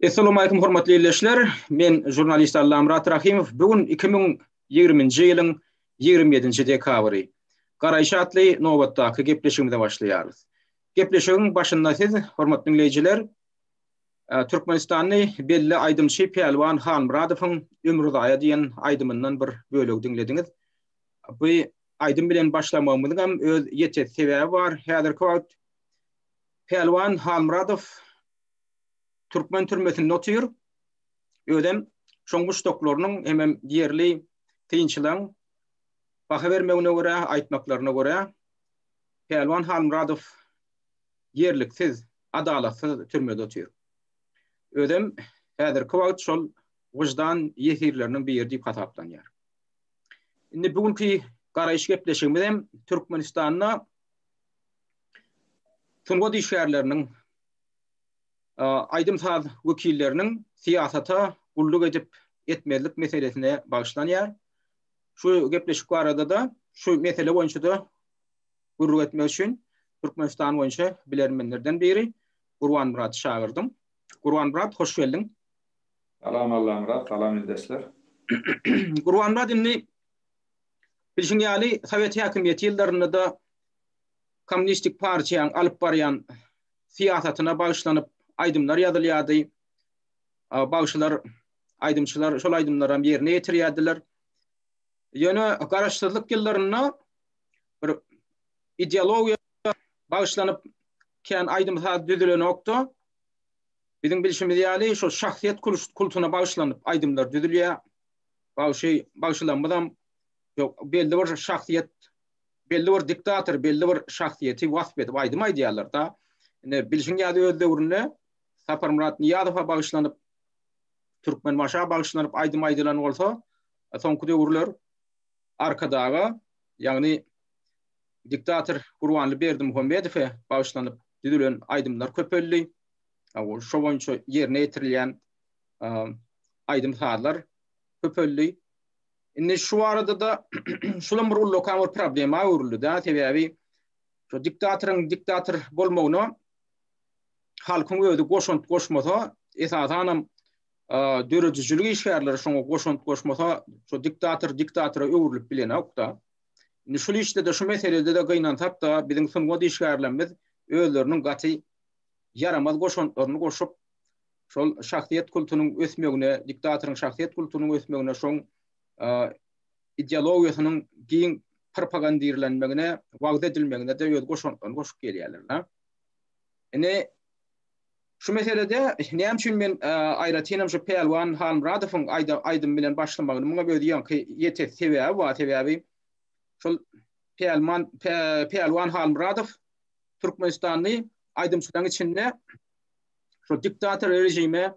Essalamu aleýkum hormatly ildeşler. Men žurnalist Allamyrat Rahimow. Bu gün 2020-nji ýylyň 27-nji dekabry. Garaýyş atly nobatdaky gepleşigimize başlaýarys. Gepleşigiň başynda siz, hormatly diňleýjiler, türkmenistanly belli aýdymçy Pälwan Halmyradowyň Ömürzaýa diýen aýdymyndan bir bölegi diňlediňiz. Bu aýdym bilen başlamagymyzyň hem öz ýeterli sebäbi bar. Häzirki wagt Pälwan Halmyradow türkmen türmesinde otyr. Özem şoň muşdaklarynyň hemem ýerli synçylaryň baha bermegine görä, aýtmaklaryna görä, Pälwan Halmyradow ýerliksiz, adalatsyz türmede otyr. Özem häzirki wagt şol wyždan ýesirleriniň biri diýip hasaplanýar. Indi bu günki garaýyş gepleşigimiz hem Türkmenistanda sungat işgärleriniň aýdym-saz wekilleriniň syýasata gulluk edip etmezlik meselesine bagyşlanýar. Şu gepleşik barada-da, şu mesele boýunça-da gürrüň etmek üçin Türkmenistan boýunça bilermenlerden biri Gurbanmyrady çagyrdym. Gurbanmyrat, hoş geldiň. Salam Allamyrat, salam ildeşler. Gurbanmyrat, indi bilşiň ýaly, sowet häkimiýeti ýyllarynda-da Kommunistik partiýaň alyp barýan syýasatyna bagyşlanyp aýdymlar ýazylýardy. Bagşylar, aýdymçylar şol aýdymlaram ýerine ýetirýärdiler. Ýöne garaşsyzlyk ýyllarynda bir ideologiýa bagyşlanyp kän aýdym-saz düzülenokdy. Biziň bilşimiz ýaly şu şahsyýet kultuna bagyşlanyp aýdymlar düzülýär. Bagşy bagşylarymyzam belli bir şahsyýet belli bir diktator, belli bir şahsyýeti wasp edip aýdym aýdýarlar-da. Ine, bilşiň ýaly öz döwründe Saparmyrat Nyýazowa bagyşlanyp, Türkmenbaşa bagyşlanyp aýdym aýdylan bolsa, soňky döwürler Arkadaga, ýagny diktator Gurbanly Berdimuhamedowa bagyşlanyp düzülen aýdymlar köpeldi. Şo boýunça ýerine ýetirilýän aýdym-sazlar köpeldi. Indi şu barada-da şulam bir ullakan bir problema öwrüldi-dä, sebäbi şu diktatoryň diktator bolmagyna halkyň özi goşant goşmasa, esasan hem döredijilik işgärleri şoňa goşant goşmasa, şu diktator diktatora öwrülip bilenok-da. Indi şul işde-de, şu meselede-de gynansak-da, biziň sungat işgärlerimiz özleriniň gaty ýaramaz goşantlaryny goşup, şol şahsyýet kultunyň ösmegine, diktatoryň şahsyýet kultunyň ösmegine, şoň ideologiýasynyň giň propagandirlenmegine, wagyz edilmegine-de öz goşantlaryny goşup gelýärler. Hä? Ine, şu meselede näme üçin men aýratyn hem şu Pälwan Halmyradowyň aýdym bilen başlamagyny muňa öz ýaňky ýetek sebäbi bar, sebäbi şol Pälman Pälwan Halmyradow Türkmenistanly aýdymçylaryň içinde Şo diktator režime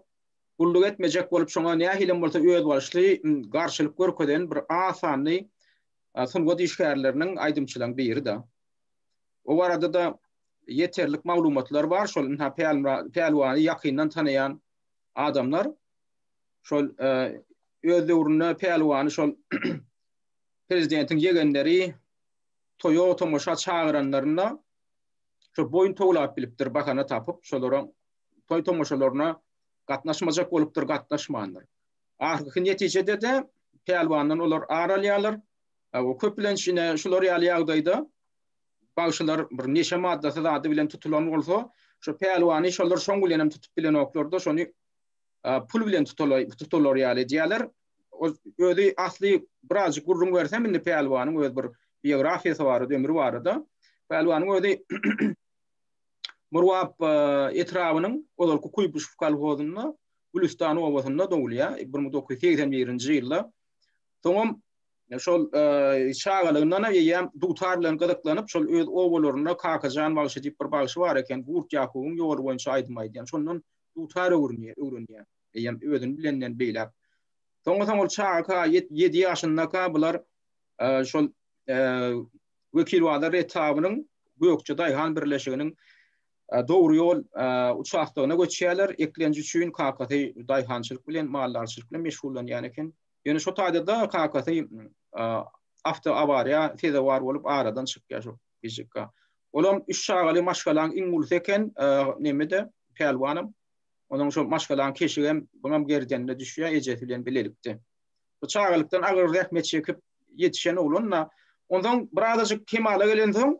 gulluk etmejek bolup şoňa nähilem bolsa özbaşly garşylyk görkezen bir az sanly sungat işgärleriniň aýdymçylaň biri da. O barada da ýeterlik maglumatlar bar şol ynha Pälwany ýakyndan tanaýan adamlar şol öz döwründe Pälwany şol prezidentiň ýegenleri toýa tomaşa çagyranlarynda şo boýun towlap bilipdir, bahana tapyp, şolaryň toý-tomaşalaryna gatnaşmajak bolupdyr, gatnaşmandyr. Ahyrky netijede-de pälwandan olar ar alýarlar. Köplenç ine şular ýaly ýagdaýda bagşylar bir neşe maddasy zady bilen tutulan bolsa, şo pälwany şolar şoň bilen hem tutup bilenoklar-da, şony pul bilen tutulaý, tutular ýaly edýärler. ol özi asly birazjyk gürrüň bersem indi Pälwanyň öz bir biografiýasy barada, ömri barada. Pälwanyň özi Murgap e, etrabynyň ozalky Kuýbuşew kolhozynda Gülüstan obasynda dogulýar. 1981-nji ýylda. Soňam e, şol e, çagalygyndan eýýäm dutar bilen gyzyklanyp, şol öz obalarynda Kakajan bagşy diýip bir bagşy bar eken, Gurt Ýakubyň ýoly boýunça aýdym aýdýan. Şondan dutar öwrenýär, öwrenýär. eýýäm özüni bilenden beýläk. Soňra-soň ol çagaka, ýedi ýaşyndaka bular şol Wekilbazar etabynyň Gökje daýhan birleşiginiň Dogry ýol uçastogyna göçýärler, eklenç üçin kakasy daýhançylyk bilen, maldarçylyk bilen meşgullanýan eken. Ýöne şo taýda-da kakasy awtoawariýa sezewar bolup aradan çykýar şo gijikka. Olam üç çagaly maşgalaň iň ulusy eken, neme-de, pälwanam. Onuň şol maşgalaň keşigem, buňam gerdenine düşýär, ejesi bilen bilelikde. Bu çagalykdan agyr zähmet çekip ýetişen oglan-da, onsoň birazajyk kemala gelensoň,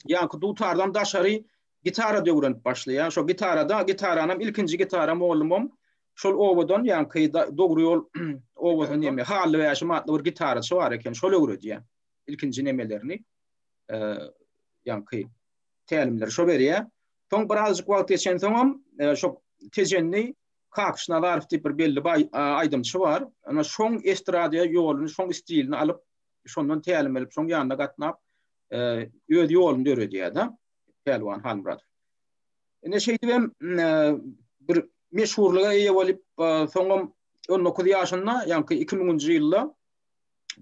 ýaňky dutardan daşary gitarada öwrenip başlaýar. Şo gitarada, gitaranam, ilkinji gitara mugallymym şol obadan, ýaňky Dogry ýol obasynyň näme, Hally Bäşim atly bir gitaraçy bar eken, şol öwredýär. Ilkinji nemelerini, ýaňky tälimleri şo berýär. Soň birazjyk wagt geçensoňam şo Tejenni Kakyş Nazarow diýip bir belli baý aýdymçy bar. Ana şoň estrada ýoluny, şoň stilini alyp, şondan tälim alyp, şoň ýanyna gatnap öz ýoluny döredýär-de Pälwan Halmyradow. Ine şeýdip hem bir meşhurlyga eýe bolup, soňam 19 ýaşynda, ýaňky 2000-nji ýylda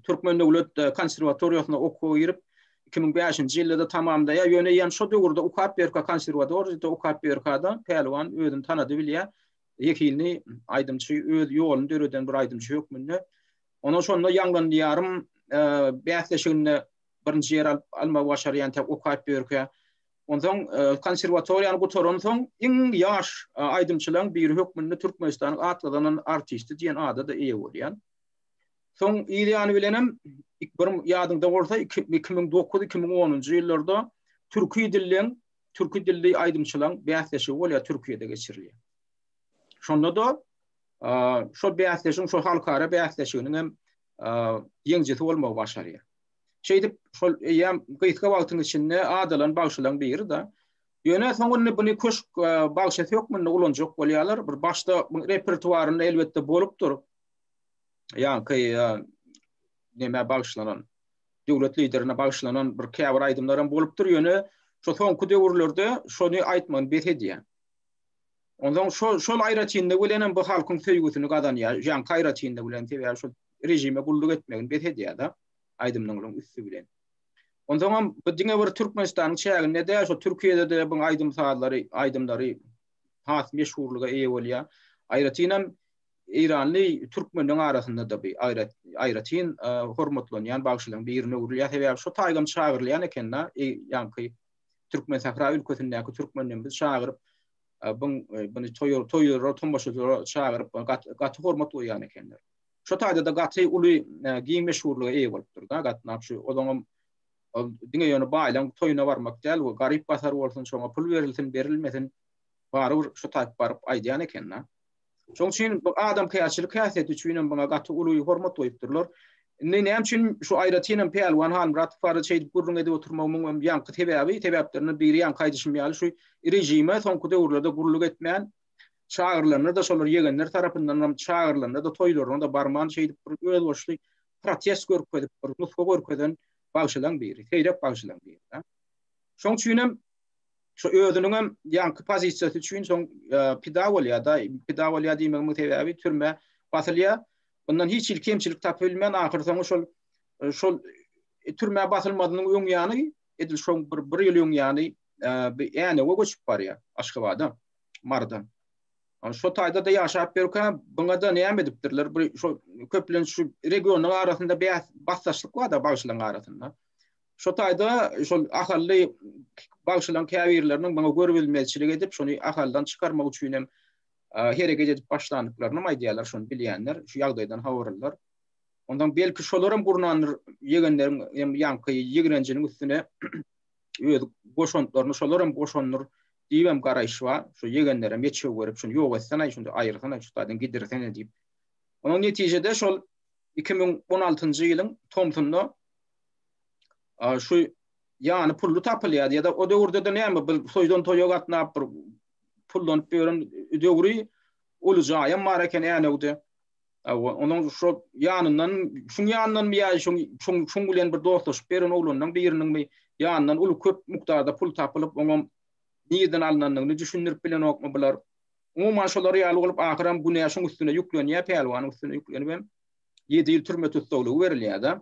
Türkmen döwlet konserwatoriýasyna okuwa girip, 2005-nji ýylda-da tamamlaýar. Ýöne ýene şo döwürde okap ýörkä konserwatoriýada okap ýörkä-de Pälwan özüni tanady bilýär. Zehinli aýdymçy, öz ýoluny döreden bir aýdymçy hökmünde. Ondan şonda Ýangyn diýarym bäsleşiginde birinji ýeri alyp almagy başarýan tä okap ýörkä. Onsoň konserwatoriýany gutaransoň iň ýaş aýdymçylaryň biri hökmünde Türkmenistanyň at gazanan artisti diýen ada-da eýe bolýar. Soň ir ýany bilenem bir ýadyňda bolsa 2009-2010-njy ýyllarda türki dilden, türki dilli aýdymçylaryň bäsleşigi bolýar Türkiýede geçirilýär. Şonda-da şo bäsleşigiň, şo halkara bäsleşiginiň hem ýeňjisi bolmagy başarýar. Şeýdip, şol eýýäm gysga wagtyň içinde adalan bagşylaryň biri-de. Ýöne soň indi buny köşk bagşysy hökmünde ulanjak bolýarlar. Bir başda repertuarynda elbetde bolupdyr. ýaňky näme bagyşlanan döwlet liderine bagyşlanan bir käbir aýdymlar hem bolupdyr ýöne şu soňky döwürlerde şony aýtmagyny bes edýär. Ondan şol şol aýratynlygy bilen hem bu halkyň söýgüsini gazanýar. Ýaňky aýratynlygy bilen sebäbi şu rejime gulluk etmegini bes edýär-de aýdymlaryň üsti bilen. Ondan hem bu diňe bir Türkmenistanyň çäginde däl, şu Türkiýede de bu aýdym sazlary, aýdymlary has meşhurlyga eýe bolýar. Aýratyn hem Eýranly türkmenleň arasynda-da bi aýrat aýratyn hormatlanýan bagşylaň birine öwrülýär. Sebäbi şo taýdan çagyrylýan eken-da, ýaňky Türkmensahra ülkesindäki türkmenleň biz çagyryp, buň buny toýur toýura tomaşaçylara çagyryp, gaty hormat goýýan ekenler. Şo taýda-da gaty uly giň meşhurlyga eýe bolupdyr-da, gatnap şu ozaňam ol diňe ýöne baýlaň toýuna barmak däl, we garyp-gasar bolsun, şoňa pul berilsin, berilmesin, barybir şo taýyp baryp aýdýan eken-da. Şoň üçin bu adamkärçilik häsiýeti üçin hem muňa gaty uly hormat goýupdyrlar. Indi näme üçin şu aýratyn hem Pälwan Halmyradow barada şeýdip gürrüň edip oturmagymyň hem ýaňky sebäbi, sebäplerinden biri ýaňky aýdyşym ýaly şu režime soňky döwürlerde gulluk etmän, çagyrylanda-da şolar ýegenler tarapyndan hem çagyrylanda-da toýlaryna-da barman şeýdip bir özboluşly protest görkezip, bir nusga görkezen bagşylaň biri, seýrek bagşylaň biri-dä. Şoň üçin hem Şu özüniň hem ýaňky pozisiýasy üçin soň pida bolýar-da. Pida bolýar diýmegimiň sebäbi türmä basylýar. Ondan hiç hili kemçilik tapybilmän ahyrsoňy şol şol türmä basylmazynyň öň ýany edil şo bir bir ýyl öň ýany Änewe göçüp barýar Aşgabada Marydan. Şo taýda-da ýaşap ýörkä buňa-da näme edipdirler? Bir şo köplenç şu regionyň arasynda bäs basdaşlyk bar-da bagşylaryň arasynda. Şo taýda şol Ahally bagşylaryň käbirleriniň muňa görübilmezçilik edip, şony Ahaldan çykarmak üçin hem hereket edip başlandyklaryny hem aýdýarlar, şony bilýänler, şu ýagdaýdan habarlylar. Ondan belki şolar hem gurnandyr, ýegenleriň hem ýaňky ýigrenjiniň üstüne öz goşantlaryny şolar hem goşandyr diýip hem garaýyş bar. Şu ýegenlere meçew berip, şuny ýok etsene, şuny aýyrsana, şu taýdan gidirsene diýip. Onuň netijede şol 2016-njy ýylyň tomsunda A şu ýany pully tapylýar ýa-da o döwürde-de näme bir toýdan toýa gatnap bir pullanyp ýören döwri uly jaýam bar eken Änewde. Onuň şu ýanyndan, şuň ýanyndanmy ýa şuň şuň şuň bilen bir dostlaşyp ýören oglanynyň biriniňmi ýanyndan uly köp mukdarda pul tapylyp, oňam nirden alnandygyny düşündirip bilenokmy bular. Umuman şolar ýaly bolup ahyram günä şuň üstüne ýüklenýär, Pälwanyň üstüne ýüklenibem ýedi ýyl türme tussaglygy berilýär-de.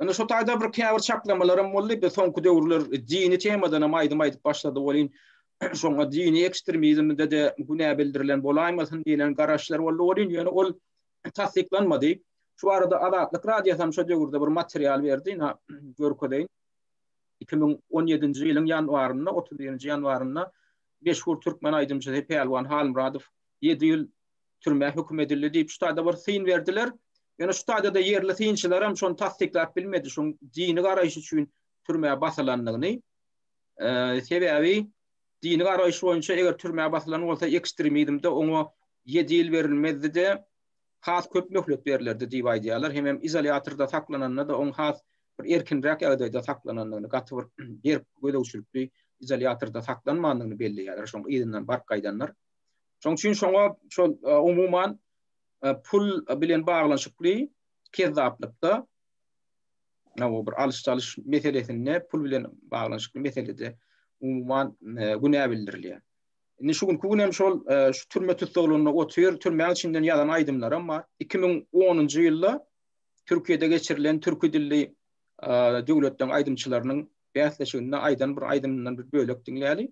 Indi şu taýda bir käbir çaklamalarym boldy. Biz soňky döwürler dini temadan hem aýdym aýdyp başlady welin, şoňa dini ekstremizmde-de günä bildirilen bolaýmasyn diýlen garaşlar boldy welin, ýöne ol tassyklanmady. Şu barada Azatlyk Radiosy hem şo döwürde bir material berdi, ine, görkezeýin. Iki müň on ýedinji ýylyň ýanwarynda, otuz birinji ýanwarynda meşhur türkmen aýdymçysy Pälwan Halmyradow ýedi ýyl türmä höküm edildi diýip şu taýda bir syn berdiler. Ýöne şu taýda-da ýerli synçylar hem şony tassyklap bilmedi, şoň dini garaýyş üçin türmä basylandygyny. Sebäbi dini garaýyş boýunça eger türmä basylan bolsa ekstremizmde oňa 7 ýyl berilmezdi-de, has köp möhlet berlerdi diýip aýdýarlar. Hem hem izolýatorda saklananda-da oň has bir erkinräk ýagdaýda saklanandygyny, gaty bir berk gözegçilikli izolýatorda saklanmandygyny belleýärler, şoň yzyndan baryp gaýdanlar. Şoň üçin şoňa şol umuman pul bilen baglanyşykly kezzaplykda Nawo bir alyş-çalyş meselesinde pul bilen baglanyşykly meselede umuman günä bildirilýär. Indi şu günki gün hem şol e, şu türme tussaglarynda otyr, türmäň içinden ýazan aýdymlarym bar. 2010-njy ýylda Türkiýede geçirilen türki dilli e, döwletleriň aýdymçylarynyň bäsleşiginde aýdan bir aýdymyndan bir bölek diňläli.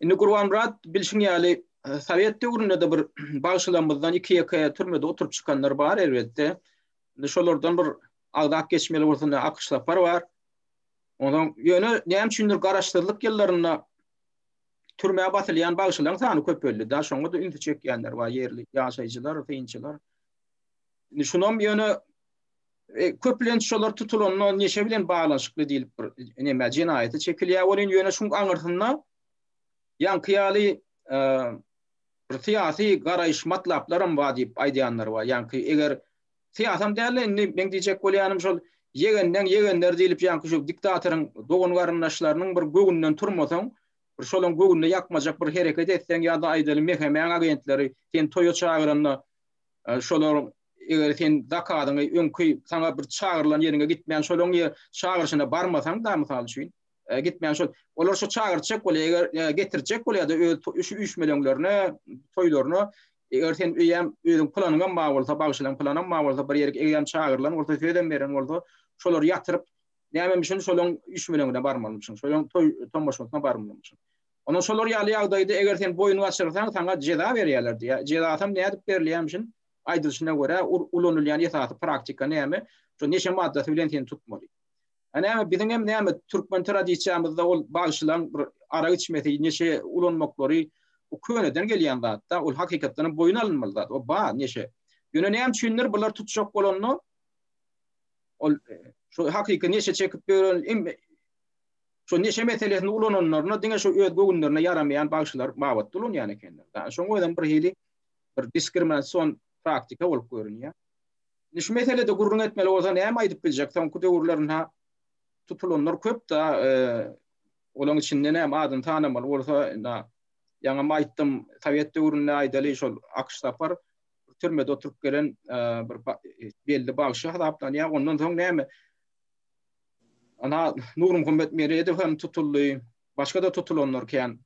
Indi Gurbanmyrat bilşiň ýaly e, Sowet döwründe-de bir bagşylarymyzdan iki-ýeke türmede oturyp çykanlar bar elbetde. Indi şolardan bir agzap geçmeli bolsa ne Akyş Sapar bar. Ondan ýöne näme üçindir garaşsyzlyk ýyllarynda türmä basylýan bagşylaryň sany köpeldi. Da şoňa da ünsi çekýänler bar ýerli ýaşaýjylar, synçylar. Indi şunam ýöne e, köplenç şolar tutulanda neşe bilen baglanyşykly diýlip bir näme jenaýata çekilýär welin ýöne şuň aňyrsynda ýaňky ýaly e, bir syýasy garaýyş matlaplarym bar diýip aýdýanlar bar. Ýaňky eger syýasam däl indi men diýjek bolýanym şol ýegenden ýegenler diýlip ýaňky şu diktatoryň dogan garyndaşlarynyň bir göwünden turmasaň bir şolaň göwnüne ýakmajak bir hereket etseň ýa-da aýdaly mehemäň agentleri sen toýa çagyranda e, şolaryň Eger sen zakadyňy öňki saňa bir çagyrylan ýeriňe gitmän şolaň ýer çagyryşyna barmasaň da mysal üçin e, gitmän şol olar şu çagyrjak bolýar eger e, getirjek bolýarda öz şu üýşmeleňlerine toýlaryna eger sen öýem özüň planyňam bar bolsa bagşylaň planyňam bar bolsa bir ýerki eýem çagyrylan bolsa sözem beren bolsa şolar ýatyryp näme üçin şolaň üýşmeleňine barmaly üçin şolaň toý tomaşasyna barmaly üçin Ondan şolar ýaly ýagdaýda eger sen boýun gaçyrsaň saňa jeza berýärler diýär. Jezasam nädip berilýär üçin aýdylyşyna görä, ulanylýan esasy praktika näme? Şu neşe maddasy bilen seni tutmaly. A näme, biziň hem näme, türkmen tradisiýamyzda ol bagşylaryň bir arak içmesi, neşe ulanmaklary, bu köneden gelýän zat-da, ol hakykatdan hem boýun alynmaly zat, o bar neşe. Ýöne näme üçindir, bular tutjak bolanda, ol şu hakyky neşe çekip ýören hem şu neşe meselesini ulananlaryna diňe şu öz göwünlerine ýaramaýan bagşylar babatda ulanýan ekenler. Şoňa özem bir hili bir diskriminasion praktika bolup görünýär. Indi şu meselede gürrüň etmeli bolsa näme aýdyp biljek? Soňky döwürlerinde tutulanlar köp-de, e, olaryň içinde näme adyny tanamaly bolsa, indi ýaňam aýtdym, sowet döwründe aýdaly şol Akyş Sapar türmede oturyp gelen e, bir e, belli bagşy hasaplanýar. Ondan soň näme? Ana Nurum Hümmet Meredow hem tutuldy. Başga da tutulanlar kän.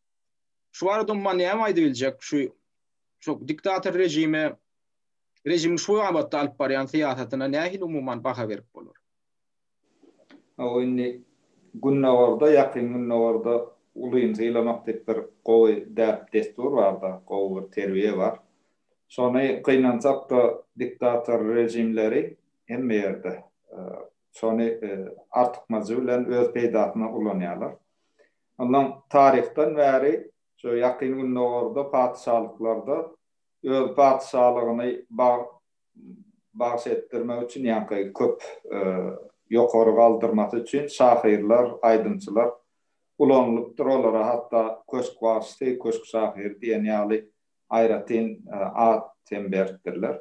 Şu barada umman näme aýdyp biljek? Şu şu diktator rejime rejimiň şu babatda alyp barýan syýasatyna nähili umuman baha berip bolar? Hawa indi Gündogarda ýakyn Gündogarda ulyny sylamak diýip bir gowy däp dessur barda, gowy bir terbiýe bar. Şony gynansakda diktator rejimleri hemme ýerde şony artykmajy bilen öz peýdasyna ulanýarlar. Ondan taryhdan bäri Şu Ýakyn Gündogarda patyşalyklarda öz patyşalygyny bagş etdirmek üçin, ýaňky köp ýokary galdyrmasy üçin şahyrlar, aýdymçylar ulanylypdyr. Olara hatda Köşk bagşysy, Köşk şahyry diýen ýaly aýratyn at hem beripdirler.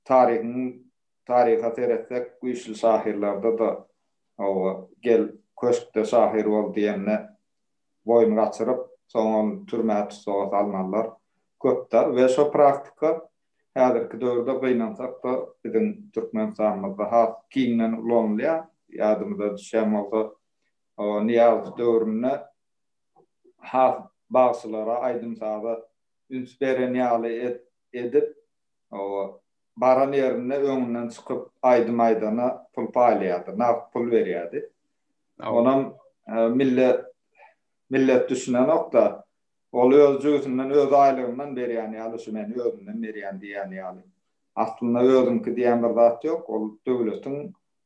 Taryhyň taryha seretsek, güýçli şahyrlarda-da Hawa, gel, köşkde şahyr bol diýende boýun gaçyryp, soňam türmä tussaga salnanlar köpdä we şo praktika häzirki döwürde gynansakda biziň Türkmenistanymyzda has giňden ulanylýar. Ýadymyza düşýän bolsa Nyýazow döwründe has bagşylara, aýdym-saza üns beren ýaly edip baran ýerinde öňünden çykyp aýdym aýdana pul paýlaýardy, nagt pul berýärdi. Onam millet millet düşünenokda, ol öz jübüsinden, öz aýlygyndan berýän ýaly, şu men özümden berýän diýýän ýaly. Aslynda özüňki diýen bir zat ýok, ol döwletiň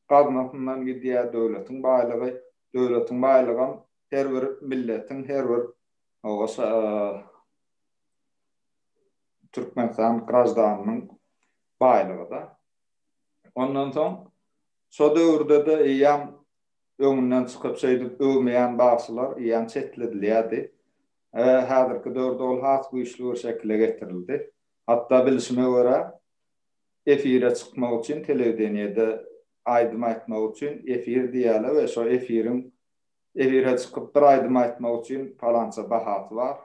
gaznasyndan gidýär, döwletiň baýlygy, döwletiň baýlygam her bir milletiň, her bir Türkmenistan graždanynyň baýlygy-da. Ondan soň Şo döwürde-de eýýäm öňünden çykyp şeýdip öwmeýän bagşylar eýýäm çetledilýärdi. Häzirki döwürde ol has güýçli bir şekile getirildi. Hatda bilşime görä, efire çykmak üçin telewideniýede aýdym aýtmak üçin efir diýýärler we şo efiriň efire çykyp bir aýdym aýtmak üçin palança bahasy bar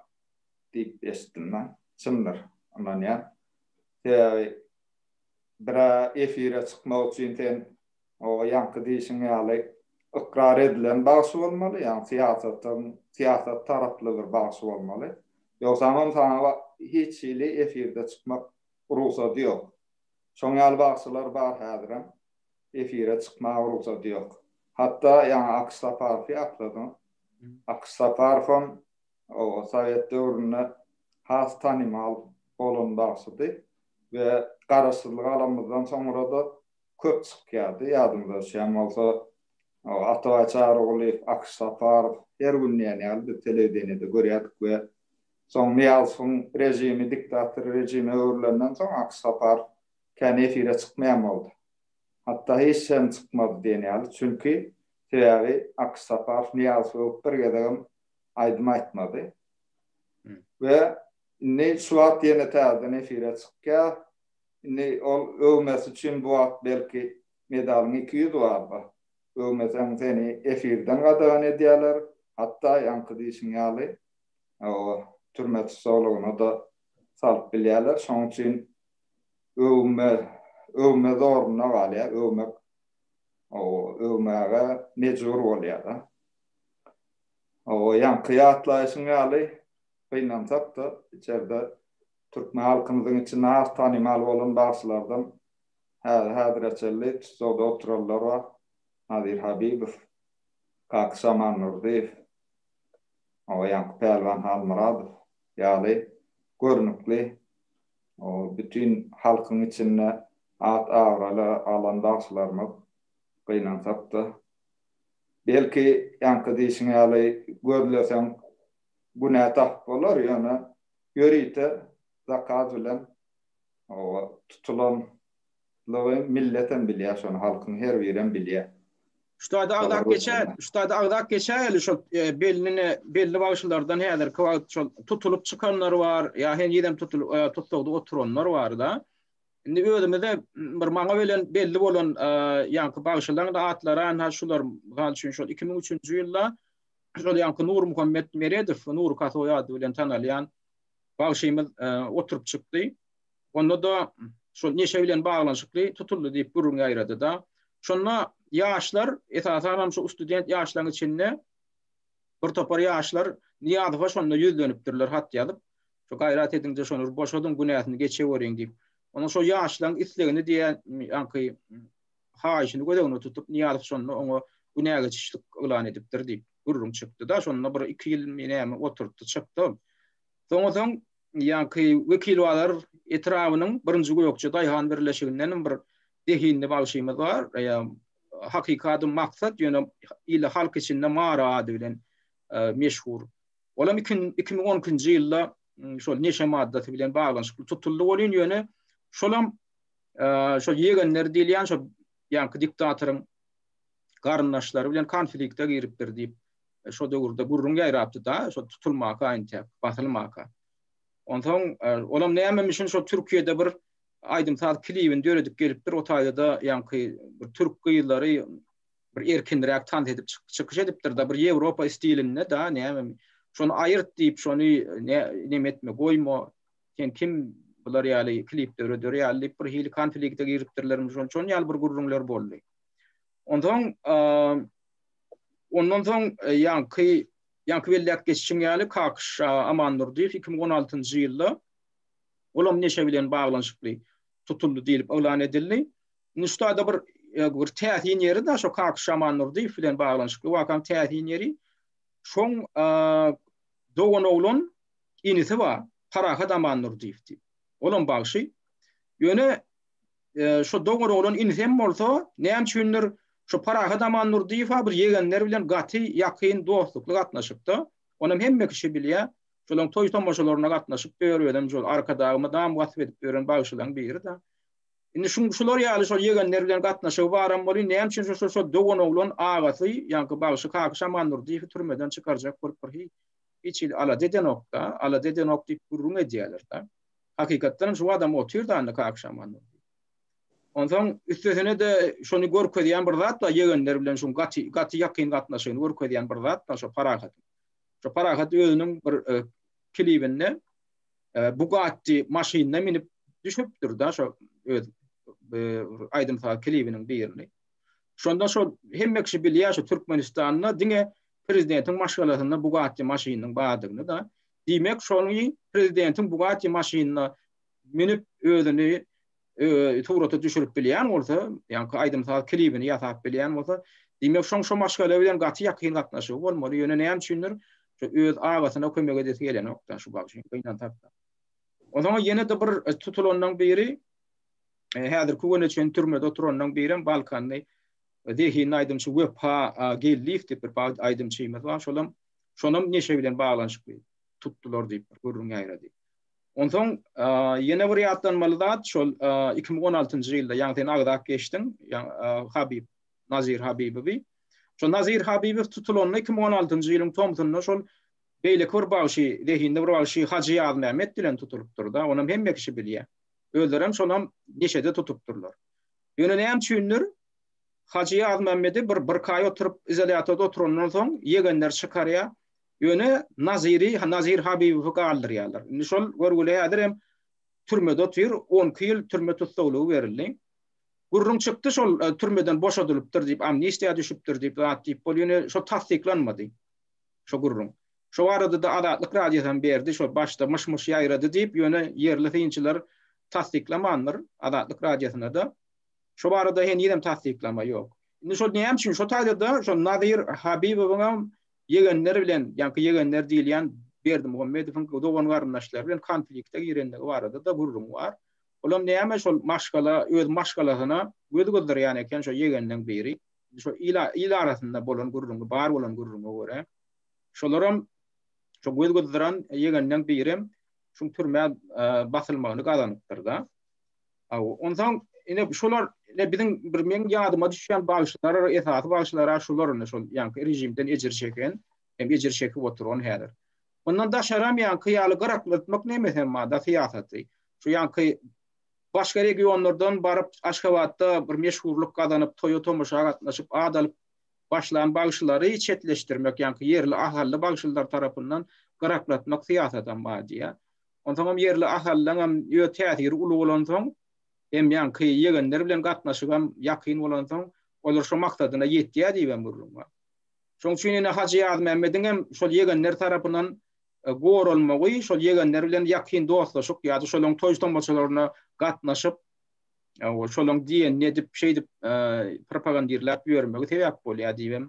diýip eşitdim men. Çyndyr, ynanýan. Sebäbi Bira efire çykmak üçin sen oba ýaňky diýşiň ýaly ykrar edilen bagşy bolmaly, ýagny syýasatyň syýasat taraply bir bagşy bolmaly. Ýogsamam saňa hiç hili efirde çykmak rugsady ýok. Şoň ýaly bagşylar bar häzirem efire çykmaga rugsady ýok. Hatda ýaňy Akyş Saparowy akladyň. Akyş Saparowam oba sowet döwründe has tanymal bolan bagşydy. we garaşsyzlygy alanymyzdan soňra-da köp çykýardy. Ýadyňyza düşýän bolsa, Atabaý Çarygulyýew, Akyş Saparow her gün diýen ýaly biz telewideniýede görýärdik we soň Nyýazowyň režimi diktator režime öwrülenden soň Akyş Saparow kän efire çykmaýan boldy. Hatda hiç hem çykmady diýen ýaly. Çünki, sebäbi Akyş Saparow Nyýazow öwüp bir gezegem aýdym aýtmady. We Indi şu wagt ýene täzeden efire çykýa. Indi ol öwmesi üçin bu wagt belki medalyň iki ýüzi barda. Öwmeseň seni efirden gadagan edýäler. Hatda ýaňky diýşiň ýaly o türme tussaglygyna-da salyp bilýäler. Şonuň üçin öwme öwme zoruna galýa. Öwmek o öwmäge mejbur bolýa-da. O ýaňky ýatlaýşyň ýaly Gynansak-da, içerde türkmen halkymyzyň içinde az tanymal bolan bagşylardan häzi-häzire çenli tussagda oturanlar bar. Nazir Habibow, Kaka Şaman Nurdyýew, o ýaňky Pälwan Halmyradow ýaly görnükli, o bütin halkyň içinde at-abraýly alan bagşylarymyz, gynansak-da. Belki, ýaňky diýşiň ýaly, gözleseň, günä tap bolar, ýöne ýörite zakaz bilen oba tutulanlygy milletem bilýär şony, halkyň her birem bilýär. Şutada agzap geçer, şutada agzap geçäýeli şol belline belli bagşylardan häzirki wagt şol tutulyp çykanlar bar, ýa henizem tutulyp tussagda oturanlar bar-da. Indi özümize bir maňa belen belli bolan ýaňky bagşylaň-da atlary ynha şular, mysal üçin şol iki müň üçünji ýylda şol ýanky Nurmuhammet Meredow, Nur Kasoý ady bilen tanalýan bagşymyz e, oturyp çykdy. Onda da şol neşe bilen baglanyşykly tutuldy diýip gürrüň ýaýrady da. Şonda ýaşlar, esasan hem şu student ýaşlaryň içinde bir topar ýaşlar Niýazowa şonda ýüzlenipdirler hat ýazyp. Şu gaýrat ediňde şony boşadyň günäsini geçeweriň diýip. Onuň şu ýaşlaryň islegini diýen ýanky haýyşyny göz öňünde tutup, Nyýazow şonda oňa günägeçişlik yglan edipdir diýip, gürrüň çykdy-da, şonda bir iki ýylmy näme oturtdy, çykdy ol. Soňasoň ýaňky Wekilbazar etrabynyň Birinji Gökje daýhan birleşigindenem bir zehinli bagşymyz bar, ýa hakyky ady Maksat, ýöne il-halk içinde Mary ady bilen meşhur. Olam iki müň on ikinji ýylda şol neşe maddasy bilen baglanyşykly tutuldy welin, ýöne şolam şol ýegenleri diýilýän şol ýaňky diktatoryň garyndaşlary bilen konflikte giripdir diýip, e, şo döwürde gürrüň ýaýrapdy-da, şo tutulmaka entek, basylmaka. Onsoň e, olam näme üçin şo Türkiýede bir aýdym saz klibini döredip gelipdir, o taýda-da ýaňky bir türk gyzlary bir erkinräk tans edip çykyş edipdir da bir Ýewropa stilinde da näme şony aýyrt diýip şony näme etme goýma Sen kim bular ýaly klip döreder ýaly diýip bir hili konflikte giripdirlermi şol şon ýaly bir gürrüňler boldy. Ondan ondan soň e, ýanky ýanky belläp geçişim ýaly Kakyş Aman Nurdyýew 2016-njy ýylda olam neşe bilen baglanyşykly tutuldy diýlip yglan edildi. Nuştada bir e, bir täsin ýeri de şo Kakyş Aman Nurdyýew bilen baglanyşykly wakaň täsin ýeri şoň dogan oglan inisi bar, Parahat Amandurdyýew diýip. Olam bagşy. Ýöne şo doňur oglan inisi hem bolsa, näme üçindir şo Parahat Amandurdyýew-a bir ýegenleri bilen gaty ýakyn dostlukly gatnaşykda. Onam hemme kişi bilýär. Şolaň toý-tomaşalaryna gatnaşyp ýör, özem şol Arkadagy mydam wasp edip ýören bagşylaň biri-de. Indi şuň şular ýaly şol ýegenleri bilen gatnaşygy baram bolýa, näme üçin şo-şo dogan oglan agasy, ýaňky bagşy Kakyş Amandurdyýewi türmeden çykarjak bolup bir hiç hili alada edenok-da, alada edenok diýip gürrüň edýärler-de. Hakykatdanam şu adam otyrdy annak agşam. Onsoň üstesine-de şony görkezýän bir zat bar, ýegenler bilen şuň gaty, gaty ýakyn gatnaşygyny görkezýän bir zat bar şo Parahat. Şo Parahat özüniň bir e, klibinde e, Bugatti maşynyna minip düşüpdir-da şo öz e, aýdym-saz klibiniň birini. Şonda şo hemme kişi bilýär şu Türkmenistanda diňe prezidentiň maşgalasynda Bugatti maşynynyň bardygyny-da, diýmek, şony prezidentiň Bugatti maşynyna münüp özüni surata düşürip bilýän bolsa, ýaňky aýdym-saz klibini ýasap bilýän bolsa, diýmek, şoň şo maşgala bilen gaty ýakyn gatnaşygy bolmaly, ýöne näme üçindir, şu öz agasyna kömek edesi gelenok-da şu bagşy, gynansak-da. Onsoň ýene-de bir tutulanlaryň biri, häzirki güne çenli türmede oturanlaryň birem balkanly zehinli aýdymçy Wepa Geldiýew diýip bir aýdymçymyz bar, şolam şonam neşe bilen baglanyşykly tutdular diýip bir gürrüň ýaýrady. Onsoň ýene bir ýatlanmaly zat şol iki müň on altynjy ýylda, ýagny sen agzap geçdiň, Habyp Nazir Habibowy. Şol Nazir Habibow tutulanda iki müň on altynjy ýylyň tomsunda şol beýleki bir bagşy, zehinli bir bagşy Hajy Ýazmämmet bilen tutulypdyr-da, onam hemme kişi bilýär. Özlerem şolam neşede tutupdyrlar. Ýöne näme üçindir, Hajy Ýazmämmedi bir birkaý oturyp, izolýatorda oturandan soň ýegenleri çykarýar, ýöne Naziri, Nazir Habibowy galdyrýarlar. Indi şol görgüli häzir hem türmede otyr, on iki ýyl türme tussaglygy berildi. Gürrüň çykdy, şol türmeden boşadylypdyr diýip, amnistiýa düşüpdir diýip, zat diýip bolýar, ýöne şol tassyklanmady, şo gürrüň. Şo barada-da Azatlyk Radiosam berdi, şo başda myş-myş ýaýrady diýip, ýöne ýerli synçylar tassyklamandyr, Azatlyk Radiosyna-da. Şo barada henizem tassyklama ýok. Indi şol näme üçin, şo taýda-da şo Nazir Habibowyňam ýegenleri bilen, ýaňky ýegenleri diýilýän Berdimuhamedowyň dogan-garyndaşlary bilen konflikte girendigi barada-da gürrüň bar. Olam näme şol maşgala, öz maşgalasyna göz gyzdyrýan eken şo ýegeniň biri. Şo il arasynda bolan gürrüňi, bar bolan gürrüňe görä. Şolaram şu göz gyzdyran ýegenleň birem şuň türmä basylmagyny gazanypdyr-da. Aw, onsoň ine şolar ine biziň bir meň ýadyma düşýän bagşylar, esasy bagşylar şolar indi şol ýaňky režimden ejir çeken, hem ejir çekip oturan häzir. Ondan daşaram ýaňky ýaly gyraklatmak neme hem bada syýasaty. Şu ýaňky başga regionlardan baryp Aşgabatda bir meşhurlyk gazanyp, toýa-tomaşa gatnaşyp, ad alyp, başlan bagşylary çetleşdirmek, ýaňky ýerli ahally bagşylar tarapyndan gyraklatmak syýasadam bar diýýär. Onsoňam ýerli ahalylaryňam öz täsiri uly bolansoň, hem ýaňky ýegenleri bilen gatnaşygam ýakyn bolansoň, olar şo maksadyna ýetýär diýibem gürrüň bar. Şoň üçin ine Hajy Ýazmämmediňem şol ýegenler tarapyndan goralmagy, şol ýegenler bilen ýakyn dostlaşyk ýa-da şolaryň toý-tomaşalaryna gatnaşyp, Ol şolaň diýenini edip, şeýdip propagandirläp ýörmegi sebäp bolýar diýibem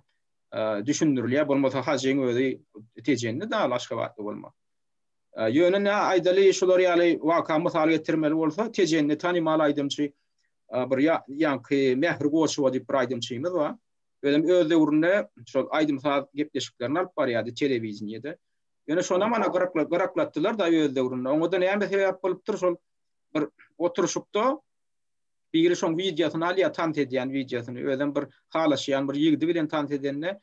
düşündirilýär. Bolmasa Hajyň özi tejenini dagy Aşgabatly bolmak. Ýöne nä aýdaly, şular ýaly waka mysal getirmeli bolsa, tejenini tanymal aýdymçy bir ýaňky Mähri Goçowa diýip bir aýdymçymyz bar. Özem öz döwründe şol aýdym-saz gepleşiklerini alyp barýardy telewideniýede. Ýöne şonam ana gyraklatdylar-da öz döwründe. Oňa-da näme sebäp bolupdyr, şol bir oturşykda biri şoň wideosyny alýar, tans edýän wideosyny, özem bir halaşýan bir ýigdi bilen tans edende,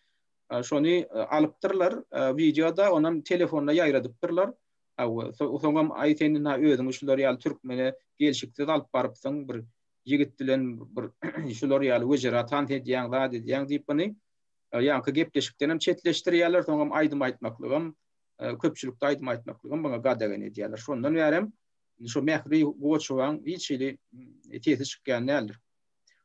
şony alypdyrlar, wideoda onam telefonda ýaýradypdyrlar. Hawa, soňam aý sen indi özüňi şular ýaly türkmene gelşiksiz alyp barypsyň, bir ýigit bilen bir şular ýaly wejera tans edýäň, zat edýäň diýip, ony ýaňky gepleşikdenem çetleşdirýärler, soňam aýdym aýtmaklygam köpçülikde aýdym aýtmaklygy hem muňa gadagan edýärler. Şondan bärem şu Mähri Goçowaň hiç hili sesi çykýan däldir.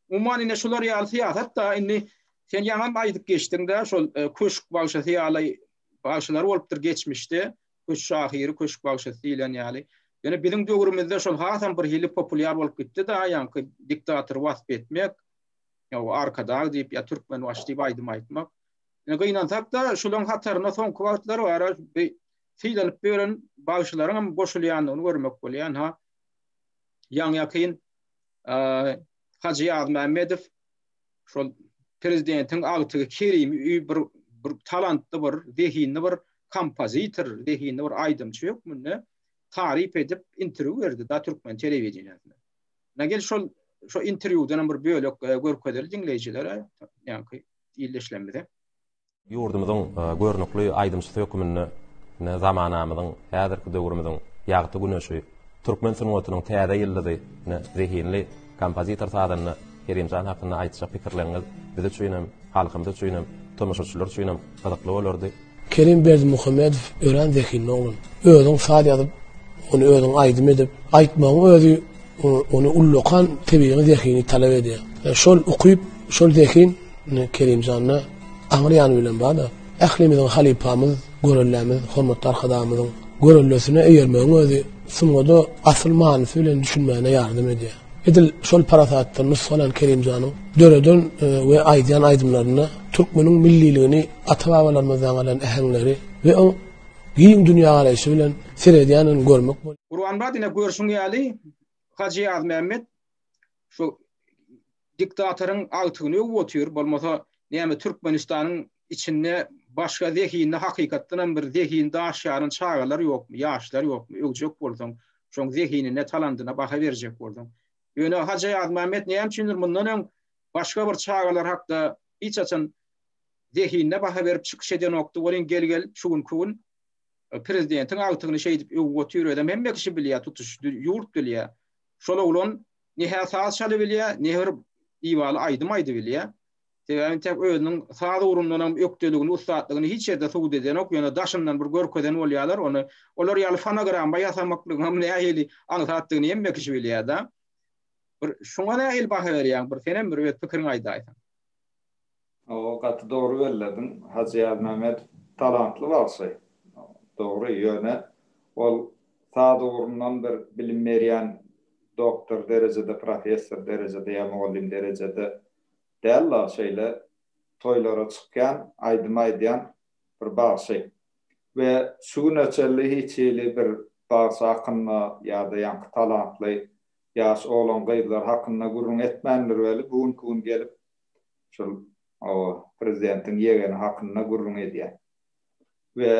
Umuman indi şular ýaly syýasat-da indi sen ýaňam aýdyp geçdiň-de şol e, köşk bagşasy ýaly bagşalar bolupdyr geçmişde. Köşk şahyry, köşk bagşasy diýlen ýaly. Ýöne biziň döwrümizde şol hasam bir hili populýar bolup gitdi-de, ýaňky diktatory wasp etmek, ýa arkadag diýip, ýa türkmen waş diýip aýdym aýtmak. Ine gynansak-da, şolaryň hataryna soňky wagtlar ara sylanyp ýören bagşylaryň hem goşulýandygyny görmek bolýar. Ynha, ýaňy-ýakyn Hajy Ýazmämmedow şol prezidentiň agtygy Kerimi öýi bir bir talantly bir, zehinli bir kompozitor, zehinli bir aýdymçy hökmünde taryp edip interwýu berdi da türkmen telewideniýesine. Nägel şol şo interwýudan bir bölek görkezeli diňleýjilere, ýaňky ildeşlerimize. Ýurdumyzyň görnükli aýdymçysy hökmünde zamanamyzyň, häzirki döwrümiziň ýagty güneşi, türkmen sungatynyň täze ýyldyzy, zehinli kompozitor-sazanda Kerimjan hakynda aýtjak pikirleriňiz biz üçinem, halkymyz üçinem, tomaşaçylar üçinem gyzykly bolardy. Kerim Berdimuhamedow örän zehinli oglan. Özüň saz ýazyp, ony özüň aýdym edip, aýtmagyň özi ony ullakan tebigy zehini talap edýär. Şol ukyp, şol zehin Kerimjanda aňry ýany bilen bar-da. Ählimiziň halypamyz, görellämiz, hormatly Arkadagymyzyň görellesine eýermegiň özi sungada asyl manysy bilen düşünmäne ýardam edýär. Edil şol parasatdan nusgalan Kerimjanyň döreden we aýdýan aýdymlarynda türkmeniň milliligini ata-babalarymyzdan galan äheňleri we oň giň dünýägaraýşy bilen seredýändigini görmek bolýar. Gurbanmyrat ine görşüň ýaly Hajy Ýazmämmet şu diktatoryň agtygyny öwüp otyr, bolmasa näme Türkmenistanyň içinde başga zehinli hakykatdan hem bir zehin daş ýaran çagalar ýokmy, ýaşlar ýokmy, öwjek bolsaň, şoň zehinine, talandyna baha berjek bolsaň. Ýöne Hajy Ýazmämmet näme üçindir mundan öň başga bir çagalar hakda hiç haçan zehinine baha berip çykyş edenokdy welin gel gel şu günki gün prezidentiň agtygyny şeýdip öwüp otyr özem hemme kişi bilýä tutuş ýurt bilýä şol oglan ne hä saz çaly bilýä ne bir diwaly aýdym aýdy bilýä sebäbi tek özüniň saz ugrundanam ökdeligini ussatlygyny hiç ýerde subut edenok ýöne daşyndan bir görkezen bolýalar ony olar ýaly fonogramma ýasamaklygyňam nähili aňsatdygyny hemme kişi bilýä da bir şuňa nähili baha berýäň bir senem bir öz pikiriňi aýdaýsaň. Hawa gaty dogry bellediň Hajy Ýazmämedow talantly bagşy dogry ýöne ol saz ugrundan bir bilim berýän doktor derejede professor derejede ýa mugallym derejede dälda şeýle toýlara çykýan aýdym aýdýan bir bagşy we şu güne çenli hiç hili bir bagşy hakynda ýada ýaňky talantly ýaş oglan gyzlar hakynda gürrüň etmändir weli bu günki gün gelip şol oba prezidentiň ýegeni hakynda gürrüň edýär we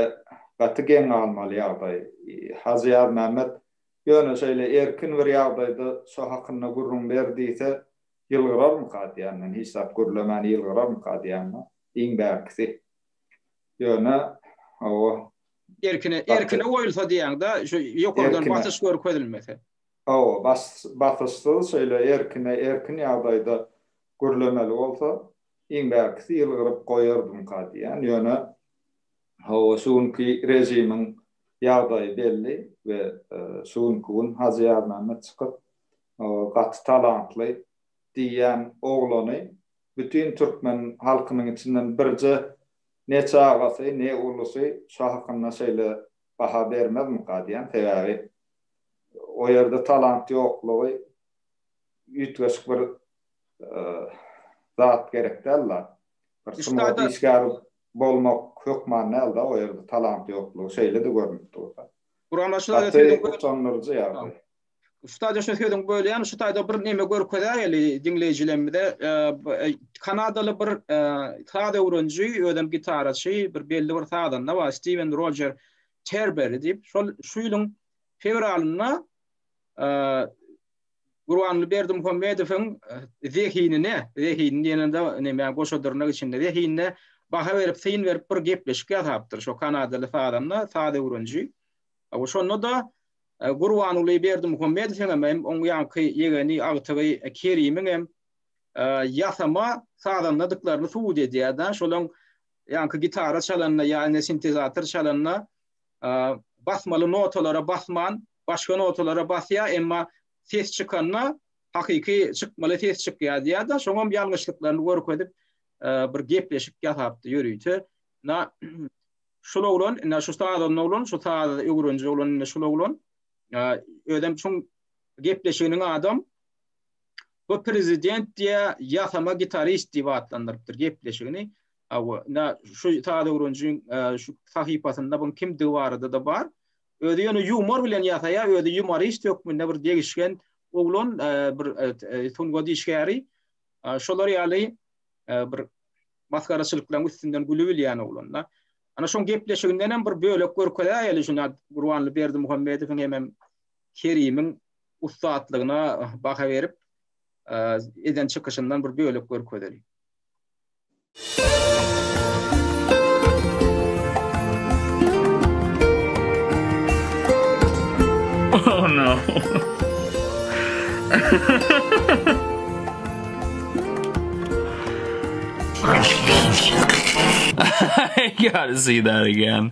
gaty geň galmaly ýagdaý. Hajy Ýazmämmet ýöne şeýle erkin bir ýagdaýda şo hakynda gürrüň ber diýse ýylgyrarmyka diýýän men hiç zat gürlemän ýylgyrarmyka diýýän men iň bärkisi ýöne oba erkine erkine goýulsa diýýäňda şu ýokardan basyş görkezilmese. Hawa, basyşsyz şeýle erkine-erkin ýagdaýda gürlemeli bolsa, iň bärkisi ýylgyryp goýardymka diýýän. Ýöne, hawa, şu günki režimiň ýagdaýy belli we şu günki gün Hajy Ýazmämmet çykyp, gaty talantly diýýän oglany bütin türkmen halkynyň içinden birje neçe agasy, ne ulusy şo hakynda şeýle baha bermezmika diýýän. Sebäbi o ýerde talant ýoklugy üýtgeşik bir zat gerek däl-de. Bir sungat işgäri bolmak hökman däl-de, o ýerde talant ýoklugy şeýle-de görnüp dur-da. Guramaçylar utandyryjy ýagdaý. Ustad, şu sözüňi bölýän, şu taýda bir näme görkezäýeli diňleýjilerimize. Kanadaly bir saz öwreniji, özem gitaraçy, bir belli bir sazanda bar, Stiwen Rojer. Terberry diýip, şol şu ýylyň fewralynda e, Gurbanly Berdimuhamedowyň e, zehinine, zehinini diýende näme goşadyrnak içinde zehinine baha berip, syn berip bir gepleşik ýasapdyr. Şo kanadaly sazanda, saz öwreniji. Bu şonda da e, Gurbanly Berdimuhamedowyň hem hem oň ýanky ýegeni agtygy e, Kerimiň hem ýasama sazandadyklaryny subut edýär-de, şolaň Ýaňky gitara çalanda ýa indi sintezator çalanda basmaly notalara basman başga notalara basýar, emma ses çykanda hakyky çykmaly ses çykýar diýýär-de, şoňam ýalňyşlyklaryny görkezip bir gepleşik ýasapdy ýörite. Na şul oglan, na şu sazanda oglan, şu sazy öwreniji oglan, na şul oglan özem şuň gepleşiginiň adam Bu prezident diýä ýasama gitarist diýip atlandyrypdyr gepleşigini. Hawa, şu Tadöwrünjiň şu sahypasynda buň kimdigi barada-da bar. Özi ýöne ýumor bilen ýasaýar, özi ýumorist hökmünde bir degişgen oglan, bir sungat işgäri. Şolar ýaly bir masgaraçylyklaryň üstünden gülibilýän oglan-da. Ana şoň gepleşiginden hem bir bölek görkezäýeli şunda Gurbanly Berdimuhamedowyň hemem Kerimiň ussatlygyna baha berip eden çykyşyndan bir bölek görkezeli. Oh no. I gotta see that again.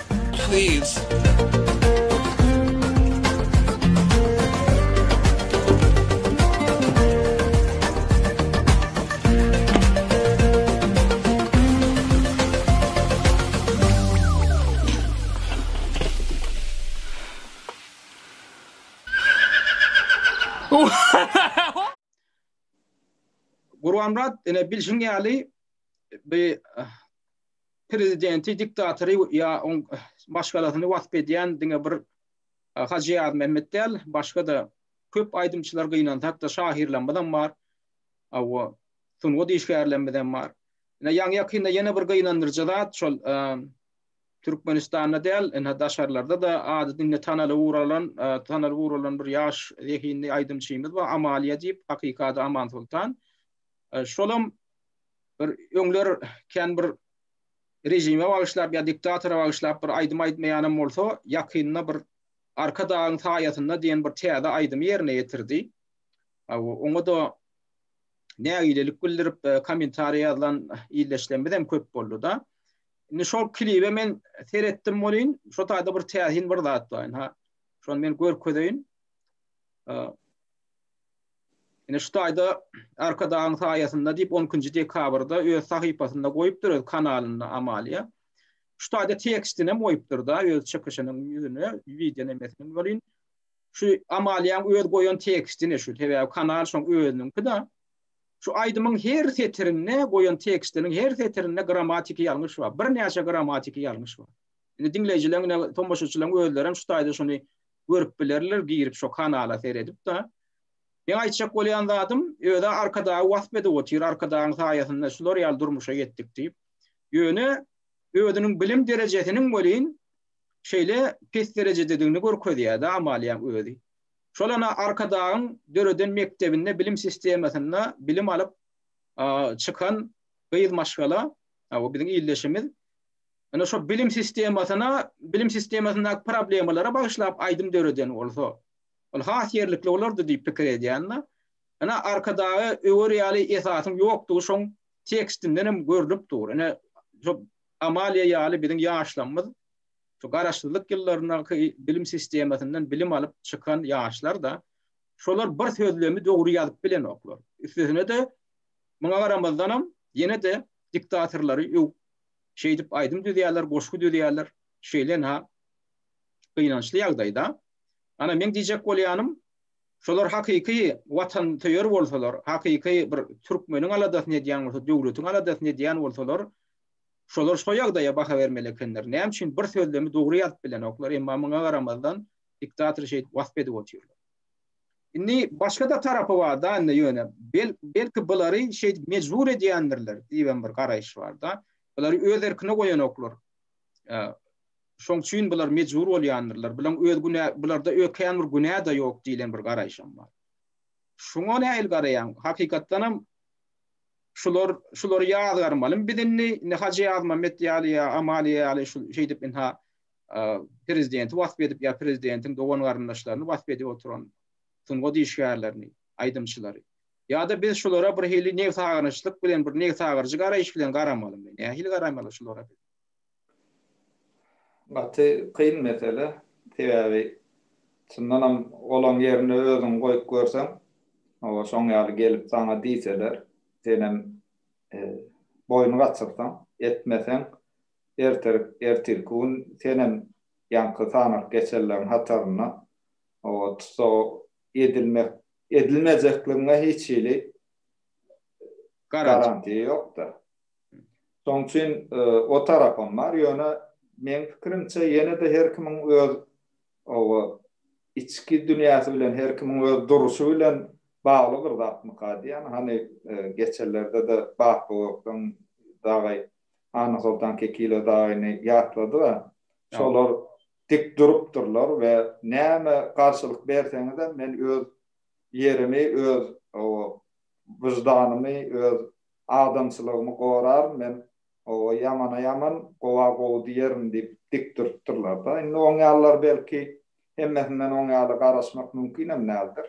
Please. Gurbanmyrat ene bilşiň ýaly bi prezidenti, diktatory ýa oň maşgalasyny wasp edýän diňe bir Hajy Ýazmämmet däl, başga-da köp aýdymçylar gynansak-da şahyrlarymyzam bar. Hawa, sungat işgärlerimizem bar. Ine ýaňy-ýakynda ýene bir gynandyryjy zat, şol Türkmenistanda däl, ine daşarlarda-da ady diňe tanalyp uralan, tanalyp uralan bir ýaş zehinli aýdymçymyz bar, Amaliýa diýip, hakyky ady Amansoltan. Şolam Bir öňler kän bir rejime bagyşlap ýa diktatora bagyşlap bir aýdym aýdmaýanam bolsa, ýakynda bir Arka dagyň saýasynda diýen bir täze aýdymy ýerine ýetirdi. Oňa-da nägilelik bildirip, e, kommentariýa ýazlan ildeşlerimiz hem köp boldy-da. Indi şol klibe men seretdim bolin, şo taýda bir täsin bir zat bar. Ha, şony men görkezeýin. Ine şu taýda Arkadagyň saýasynda diýip on ikinji dekabrda öz sahypasynda goýupdyr öz kanalynda Amalia. Şu taýda tekstini hem goýupdyr da öz çykyşynyň ýüzüne wideo nemesini welin şu Amaliýaň öz goýan tekstini şu sebäbi kanal şoň özüniňki da şu aýdymyň her setirinde goýan tekstiniň her setirinde grammatiki ýalňyş bar. Birnäçe grammatiki ýalňyş bar. Indi diňleýjiler, tomaşaçylaryň özleri hem şu taýda şuny görüp bilerler girip şo kanala seredip da. Meň aýtjak bolýan zadym özä arkadagy wasp edip otyr arkadagyň saýasynda şular ýaly durmuşa ýetdik diýip. Ýöne özüniň bilim derejesiniň welin şeýle pes derejededigini görkezýär da Amaliýaň özi. Şol ana arkadagyň döreden mekdebinde bilim sistemasynda bilim alyp çykan gyz maşgala o biziň ildeşimiz Ine şo bilim sistemasyna, bilim sistemasyndaky problemalara bagyşlap aýdym döreden bolsa, ol has ýerlikli bolardy diýip pikir edýän-de. Ine arkadaga öwer ýaly esasyň ýokdugy şoň tekstinden hem görlüp dur. Ine şo Amaliýa ýaly biziň ýaşlarymyz şu garaşsyzlyk ýyllaryndaky bilim sistemasyndan bilim alyp çykan ýaşlar-da, şolar bir sözlemi dogry ýazyp bilenoklar. Üstesine-de, muňa garamazdanam ýene-de diktatorlary öwüp şeýdip aýdym düzýärler, goşgy düzýärler. Şeýle-ha gynançly ýagdaýda. Ana, meň diýjek bolýanym, şolar hakyky watansöýer bolsalar, hakyky bir türkmeniň aladasyny edýän bolsa, döwletiň aladasyny edýän bolsalar, şolar şo ýagdaýa baha bermeli ekenler. Näme üçin bir sözlemi dogry ýazyp bilenoklar, emma muňa garamazdan diktator şeýdip wasp edip otyrlar. Indi başga-da tarapy bar-da indi ýöne. Belki bulary şeýdip mejbur edýändirler diýibem bir garaýyş bar-da. Bulary öz erkine goýanoklar. Şoň üçin bular mejbur bolýandyrlar. Bulaň öz günä, bularda ökeýän bir günä-de ýok diýlen bir garaýşam bar. Şuňa nähili garaýaň? Hakykatdan hem şular, şulary ýazgarmalymy biz indi? Indi Hajy Ýazmammet ýaly ýa Amalia ýaly şeýdip ynha prezidenti wasp edip ýa prezidentiň dogan-garyndaşlaryny wasp edip oturan sungat işgärlerini, aýdymçylary. Ýa-da biz şulara bir hili nebsagyryjylyk bilen, bir nebsagyryjy garaýyş bilen garamalymy? Nähili garamaly şulara biz? Gaty kyn mesele. Sebäbi çyndan hem olaň ýerine özüňi goýup görseň, hawa şoň ýaly gelip saňa diýseler, senem boýun gaçyrsaň, etmeseň, Ertir, ertirki gün senem ýaňky sanalyp geçenleriň hatarynda oba tussag edilmek, edilmejekligiňe hiç hili garantiýa ýok-da. Şoň üçin o tarapam bar, ýöne meň pikirimçe ýene-de her kimiň öz oba içki dünýäsi bilen, her kimiň öz duruşy bilen bagly bir zatmyka diýýän. Hany geçenlerde-de Batbobakdan dagy Annasoltan Kekile dagyny ýatlady we şolar dik durupdyrlar we näme garşylyk berseňizem men öz ýerimi, öz wyždanymy, öz adamçylygymy goraryn, men ýamana ýaman, gowa gowy diýerin diýip dik durupdyrlar-da. Indi oň ýalylar belki hemmesinden oň ýaly garaşmak mümkinem däldir.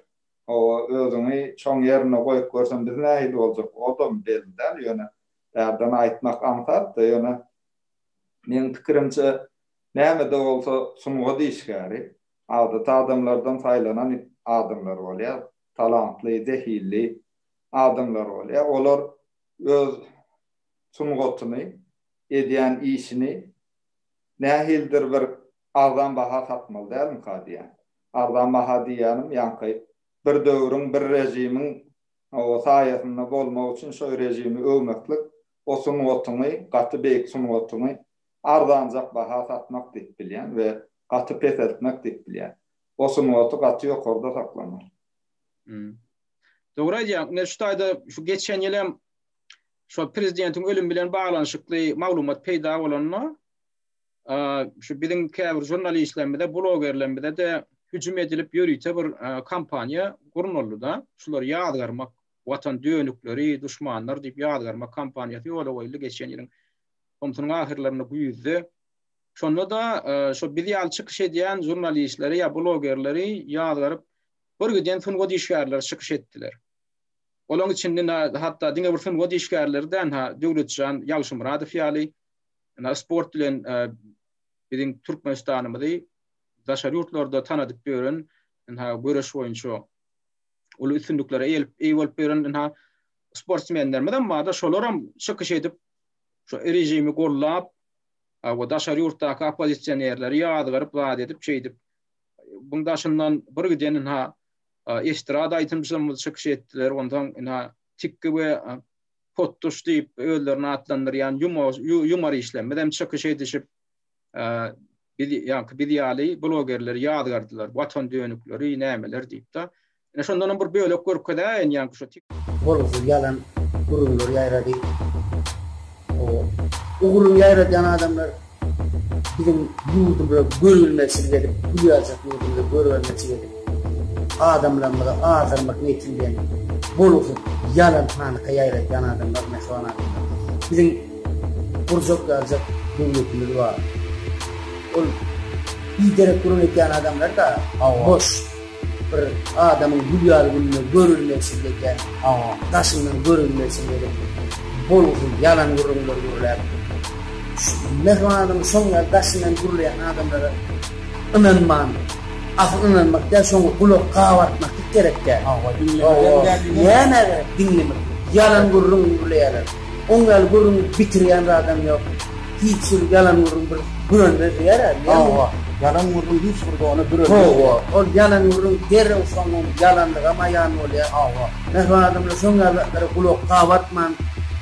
Özüňi şoň ýerine goýup görsem biz nähili boljak, odam belli däl, ýöne Bärden aýtmak aňsat-da, ýöne, meň pikirimçe, näme-de bolsa sungat işgäri, adaty adamlardan saýlanan adamlar bolýar, talantly, zehinli adamlar bolýar. Olar öz sungatyny, edýän işini nähilidir bir arzan baha satmaly dälmika diýýän. Arzan baha diýýänim, ýaňky bir döwrüň, bir režimiň Hawa, saýasynda bolmak üçin şo režimi öwmeklik, o sungatyňy, gaty beýik sungatyňy arzanjak baha satmak diýip bilýän we gaty peseltmek diýip bilýän. O sungaty gaty ýokarda saklamak. Hum. Dogry aýdýaň. Ine şu taýda şu geçen ýyl hem şo prezidentiň ölümi bilen baglanyşykly maglumat peýda bolanda, Şu biziň käbir žurnalistlerimize, blogerlerimize-de hüjüm edilip ýörite bir kampaniýa gurnaldy-da. Şulary ýazgarmak, Watan dönükleri, duşmanlar diýip ýazgarmak kampaniýasy ýola goýuldy geçen ýylyň tomsunyň ahyrlarynda güýzde. Şonda-da şo biz ýaly çykyş edýän žurnalistleri ýa blogerleri ýazgaryp birgiden sungat işgärleri çykyş etdiler. Olaň içinde hatda diňe bir sungat işgärleri däl-ha Döwletjan Ýagşymyradow ýaly Ýöne sport bilen biziň Türkmenistanymyzy daşary ýurtlarda tanadyp ýören ynha göreş boýunça uly üstünliklere eýe bolup ýören ynha sportsmenlerimiz hem barda şolar hem çykyş edip şu režimi gollap we daşary ýurtdaky oppozisionerleri ýazgaryp zat edip şeýdip buň daşyndan bir giden ynha estrada aýdymçylarymyz çykyş etdiler ondan ynha tikki we Potduş diýip özlerini atlandyrýan ýumor işlem bizem çykyş edişip biz ýaňky biz ýaly blogerler ýazgardylar watan dönükleri nämeler diýip da ine şondanam bir bölek görkezäýin ýaňky şu bolgusyz ýalan gürrüňleri ýaýrady o ugruny ýaýradýan adamlar Biziň ýurdumyza görülmezçilik edip, gül ýazjak ýurdumyza görülmezçilik edip, adamlarymyzy azdyrmak niýeti bilen bolgusyz ýalan panyka ýaýradýan adamlar, mähriban adamlar. Biziň gurjak ýazjak döwletimiz bar. Ol biderek gürrüň edýän adamlar-da boş. Bir adamyň gül ýaly gününe görülmeksiz ekän, daşyndan görülmeksiz bolup, bolgusyz ýalan gürrüňler gürläp, Mähribananyň şoň ýaly daşyndan gürleýän adamlara ynanman, asyl ynanmak däl, şoňa gulak gabartmaklyk gerek däl. Hawa, diňlemek hem däl. Näme gerek diňlemek? Ýalan gürrüň gürleýärler. Oň ýaly gürrüň bitirýän zadam ýok. Hiç bir ýalan gürrüň bir bürenmez diýerä, diýýän. Hawa, ýalan gürrüň hiç bir dona bürenmez. Hawa, ol ýalan gürrüň derrew soňam ýalandygam aýan bolýar. Hawa. Mähriban adamlar şoň ýaly zatlara gulak gabartman,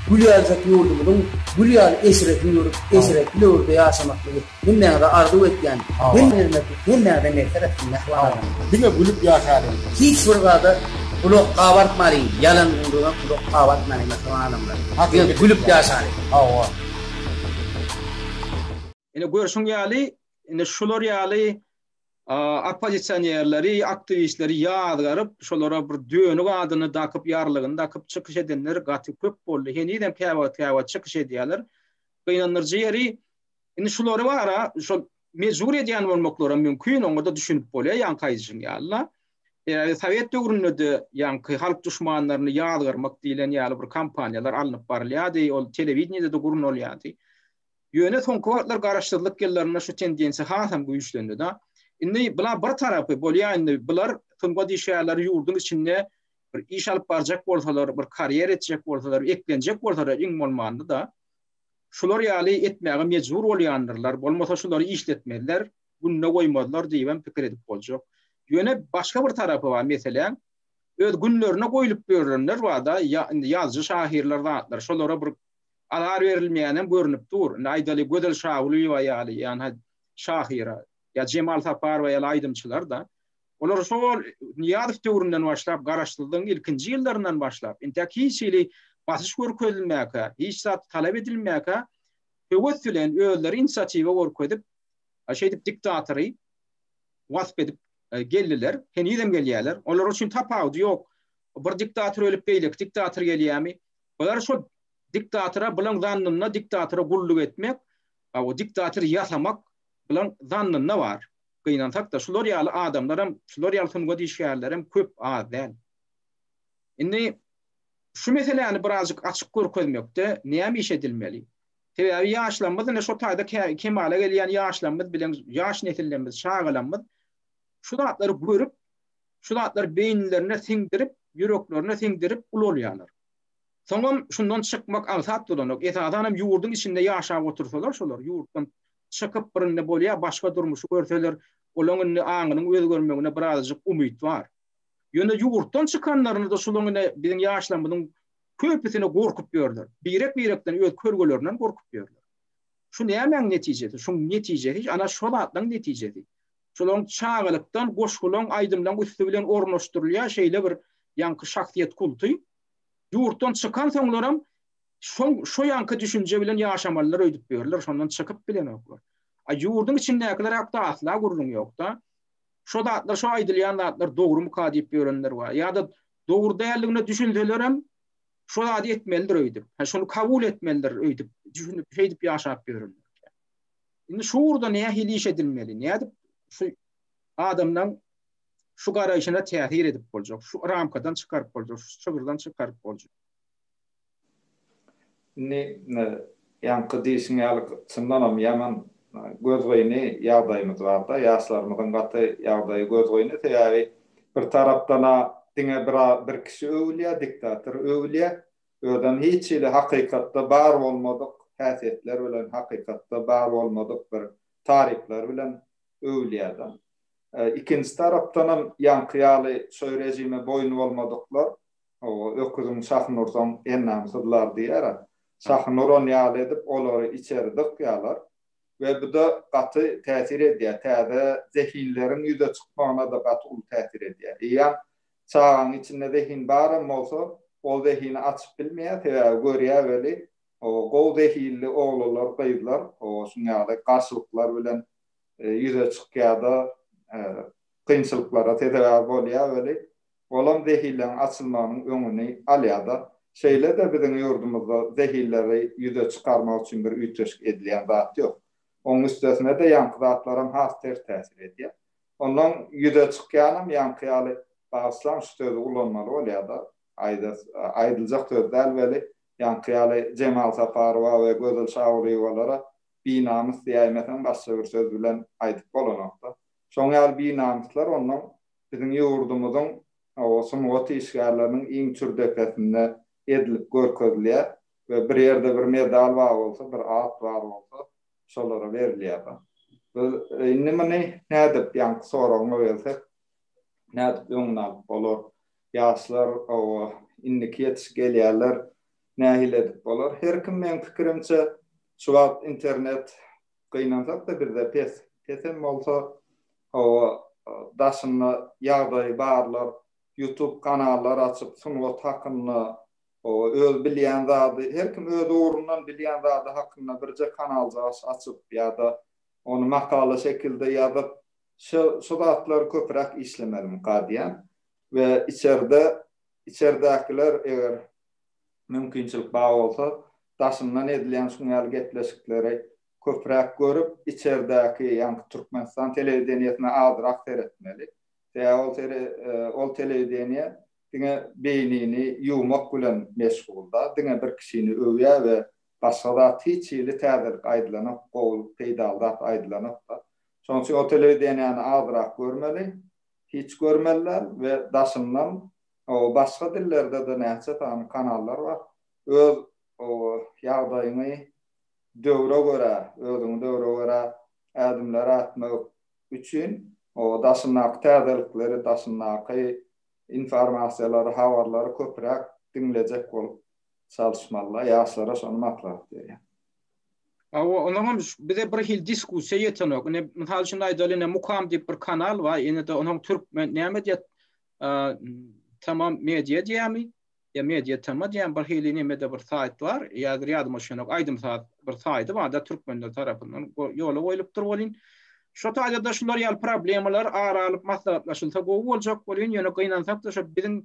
gül ýaljak ýurdumyzyň gül ýaly eşretini görüp, eşretli döwürde ýaşamaklygy. Hemmäňize arzuw etýän hem ýermekli hemmäňize merhmet etsin mähriban agam. Diňe gülüp ýaşalyň. Hiç bir zada gulak gabartmalyň ýalan gürrüňe gulak gabartmalyň mähriban adamlar. Diňe gülüp ýaşalyň. Hawa. Ine görşüň ýaly ine şular ýaly oppozisionerleri aktiwistleri ýazgaryp şolara bir dönük adyny dakyp ýarlygyny dakyp çykyş edenler gaty köp boldy henizem käwagt käwagt çykyş edýäler gynandyryjy ýeri Indi şulary bara şol mejbur edýän bolmaklary mümkin, oňa-da düşünip bolýar, ýaňky aýdyşyň ýaly-da. Ýa-da sowet döwründe-de ýaňky halk duşmanlaryny ýazgarmak diýlen ýaly bir kampaniýalar alnyp barylýardy, ol telewideniýede-de gurnalýardy. Ýöne soňky wagtlar garaşsyzlyk ýyllarynda şu tendensiýa hasam güýçlendi-de. Indi bula bir tarapy bolýar, indi bular sungat işgärleri ýurduň içinde bir iş alyp barjak bolsalar, bir karýera etjek bolsalar, eklenjek bolsalar iň bolmanda-da, Şular ýaly etmäge mejbur bolýandyrlar, bolmasa şulary işletmezler, gününe goýmazlar diýibem pikir edip boljak. Ýöne başga bir tarapy bar meseläň, öz günlerine goýlup ýörenler bar-da, indi ýazyjy-şahyrlar zatlar, şolara bir azar berilmeýänem görnüp dur. Indi aýdaly, Gözel Şagulyýewa ýaly, ýa-ha şahyra, ýa Jemal Saparowa ýaly aýdymçylar-da, Olar şol Nyýazow döwründen başlap, garaşsyzlygyň ilkinji ýyllaryndan başlap, intäk hiç hili basyş görkezilmäkä, hiç zat talap edilmäkä, höwes bilen özleri inisiatiwa görkezip, şeýdip diktatory wasp edip geldiler, henizem gelýärler. Olar üçin tapawudy ýok. Bir diktator ölüp, beýleki diktator gelýärmi? Bular şol diktatora bulan zannynda diktatora gulluk etmek, o diktator ýasamak bulan zannynda bar. gynansak-da, şular ýaly adamlaram, şular ýaly sungat işgärlerem köp, az däl. Indi şu meseläni birazjyk açyk görkezmekde näme iş edilmeli? Sebäbi ýaşlarymyz, ine şo taýda kemala gelýän ýaşlarymyz bilen ýaş nesillerimiz, çagalarymyz şu zatlary görüp, şu zatlary beýnilerine siňdirip, ýüreklerine siňdirip ulalýarlar. Soňam şundan çykmak aňsat duranok. Esasanam ýurduň içinde ýaşap otursalar şolar, ýurtdan çykyp birinde bolýar başga durmuşy görseler olaň indi aňynyň özgermegine birazjyk umyt bar. Ýöne ýurtdan çykanlarynda şulaň ine biziň ýaşlarymyzyň köpüsini gorkup ýörler. Birek birekden öz körgelerinden gorkup ýörler. Şu nämäň netijesi? Şuň netijesi ana şo zatlaň netijesi. Şolaň çagalykdan goşgulaň aýdymlaň üsti bilen ornaşdyrylýar şeýle bir ýaňky şahsyýet kulty. Ýurtdan çykan soňlaram Şoň şo ýanky düşünje bilen ýaşamalylar öýdüp ýörler, şondan çykyp bilenoklar. A ýurduň içindäkiler hakda asla gürrüň ýokda. Şo zatlar, şo aýdylýan zatlar dogrumyka diýip ýörenler bar. Ýa-da dogry däldigine düşünselerem, şo zady etmelidir öýdüp. Ha şony kabul etmelidir öýdüp, düşünip, şeýdip ýaşap ýörün. Indi şu ugurda nähili iş edilmeli? Nädip şu adamdan şu garaýşyna täsir edip boljak, şu ramkadan çykaryp boljak, şu çygyrdan çykaryp boljak. Indi ýaňky diýşiň ýaly çyndanam ýaman gözgyny ýagdaýymyz barda, ýaşlarymyzyň gaty ýagdaýy gözgyny, sebäbi bir tarapdan-a diňe bir kişi öwülýär, diktator öwülýär, özem hiç hili hakykatda bar bolmadyk häsiýetler bilen, hakykatda bar bolmadyk bir taryplar bilen öwülýärler. Ikinji tarapdanam ýaňky ýaly şoý režime boýun bolmadyklar, Hawa, öküziň şahyny ursaň, ennam syzlar diýer-ä. Şahyny uran ýaly edip, olary içeri dykýarlar we bu-da gaty täsir edýär. Täze zehinleriň ýüze çykmagyna-da gaty uly täsir edýär. Eýýäm çagaň içinde zehin baram bolsa, ol zehini açyp bilmeýär, sebäbi görýär weli, gowy zehinli oglanlar, gyzlar şunuň ýaly garşylyklar bilen ýüze çykýar-da, kynçylyklara sezewer bolýar weli, Olam zehilleň açylmagynyň öňüni alýada. Şeýle-de biziň ýurdumyzda zehilleri ýüze çykarmak üçin bir üýtgeşik edilýän zat ýok. Oň üstesine-de ýaňky zatlaram has ters täsir edýä. Ondan ýüze çykýanam ýaňky ýaly bagyşlaň şu sözi ulanmaly bolýada. Aýdas aýdyljak söz däl weli, ýaňky ýaly Jemal Saparowa we Gözel Şagulyýewalara binamys diýäýmeseň başga bir söz bilen aýdyp bolanokda. Şoň ýaly binamyslar onnoň Biziň ýurdumyzyň oba sungat işgärleriniň iň çür depesinde edilip görkezilýär we bir ýerde bir medal bar bolsa, bir at bar bolsa, şolara berilýär. Biz indi muny nädip, ýaňky soragyňa gelsek, nädip öňüni alyp bolar? Ýaşlar oba, indiki ýetişip gelýänler nähili edip bolar? Her kim meň pikirimçe, şu wagt internet Gynansak-da bizde pes. Pesem bolsa, hawa, daşynda ýagdaýy barlar YouTube kanallar açyp, sungat hakynda, hawa, öz bilýän zady, her kim öz ugrundan bilýän zady hakynda birje kanaljagaş açyp ýa-da ony makala şekilde ýazyp, şo, şo zatlary köpräk işlemeliň ka diýýän. We içerde, içerdäkiler eger mümkinçilik bar bolsa, daşyndan edilýän şuň ýaly gepleşikleri köpräk görüp, içerdäki, ýaňky Türkmenistan telewideniýesine azrak seretmeli. Sebäbi ol seri, ol telewideniýe diňe beýnini ýuwmak bilen meşgul-da, diňe bir kişini öwýär we başga zat hiç hili täzelik aýdylanok, gowy, peýdaly zat aýdylanok-da. Şonuň üçin o telewideniýäni azrak görmeli, hiç görmeli däl we daşyndan Oba başga dillerdede näçe sany kanallar bar. Öz oba ýagdaýyňy döwre görä, özüňi döwre görä ädimler ätmek üçin oba daşyndaky täzelikleri, daşyndaky informasiýalary, habarlary köpräk diňlejek bolup çalyşmalylar. Ýaşlara şony maslahat berýän. Oba onuň hem bize bir hil diskussiýa ýetenok. Ine mysal üçin aýdaly ine mukam diýip bir kanal bar. Ine de onuň türkmen näme diýýär Tamam media diýämi? Ýa media tama diýämi? Bir hili nemede bir saýt bar. Ýazir ýadyma düşenok. Aýdym-saz bir saýdy barda türkmenler tarapyndan ýola goýlupdyr welin, şo taýda-da şular ýaly problemalar ara alyp maslahatlaşylsa gowy boljak welin, ýöne gynansak-da şo biziň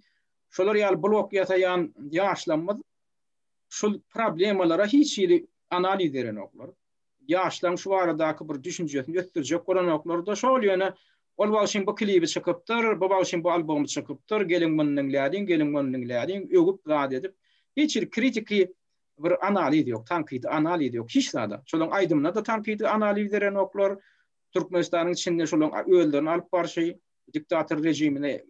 şolar ýaly blog ýasaýan ýaşlarymyz şul problemalara hiç hili analiz berenoklar. ýaşlaryň şu baradaky bir düşünjesini ösdürjek bolanoklar-da şol, ýöne ol bagşyň bu klibi çykypdyr, bu bagşyň bu albomy çykypdyr, geliň muny diňläliň, geliň muny diňläliň, öwüp zat edip, hiç hili kritiki bir analiz ýok, tankydy analiz ýok, hiç zada. Şolaryň aýdymyna-da tankydy analiz berenoklar, Türkmenistanyň içinde şolaryň özlerini alyp barşy, diktator režimine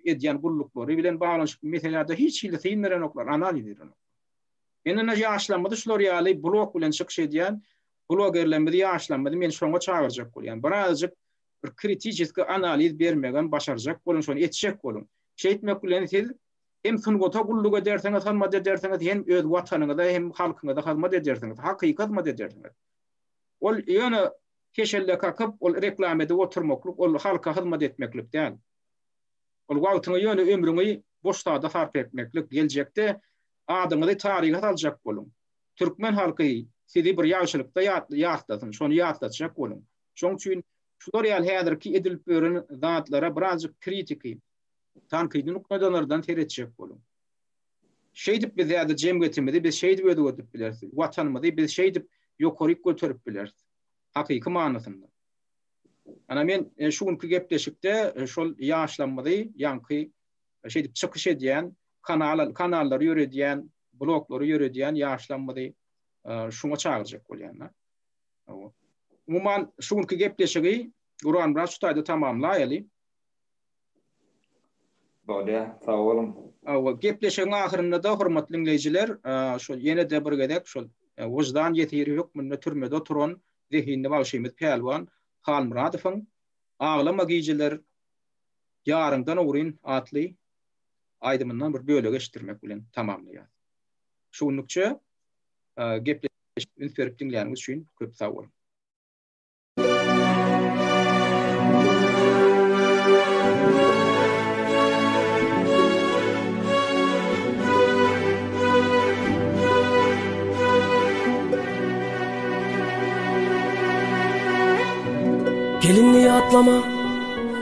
edýän gulluklary bilen baglanyşykly meselelerde hiç hili syn berenoklar, analiz berenoklar. Men indi ýaşlarymyzy şular ýaly blog bilen çykyş edýän blogerlerimizi ýaşlarymyzy men şoňa çagyrjak bolýan. Bir azajyk bir kritiçeski analiz bermegem başarjak boluň şony etjek boluň. Şeýtmek bilen siz hem sungata gulluk edersiňiz hyzmat edersiňiz hem öz watanyňyza hem halkyňyza hyzmat edersiňiz hakyky hyzmat edersiňiz. Ol ýöne keşelle kakyp ol reklama edip oturmaklyk ol halka hyzmat etmeklik däl. Ol wagtyňy ýöne ömrüňi boş zada sarp etmeklik geljekde Adyňyzy taryha saljak boluň. Türkmen halky sizi bir ýagşylykda ýatlasyn, şony ýatlatjak boluň. Şoň üçin şular ýaly häzirki edilip ýören zatlara birazjyk kritiki, tankydy nukdaýnazardan seretjek boluň. Şeýdip biz häzir jemgyýetimizi biz şeýdip özgerdip bileris. Watanymyzy biz şeýdip ýokaryk göterip bileris. Hakyky manysynda. Ana men şu günki gepleşikde şol ýaşlarymyzy, ýaňky şeýdip çykyş edýän, kanal kanallary ýöredýän, bloglary ýöredýän ýaşlarymyzy şuňa çagyrjak bolýan-da. Umuman, şu günki gepleşigi Guranmyrat şu taýda tamamlaýaly. Bolýa, sag boluň. Hawa, gepleşigiň ahyrynda-da, hormatly diňleýjiler, şol ýene-de bir gezek şol wyždan ýesiri hökmünde türmede oturan zehinli bagşymyz Pälwan Halmyradowyň Aglama gijeler Ýaryňdan ogryn atly aýdymyndan bir bölegi eşitdirmek bilen tamamlaýas. Şu günlükçe gepleşik üns berip diňläniňiz üçin köp sag boluň. Gelin ýatlama.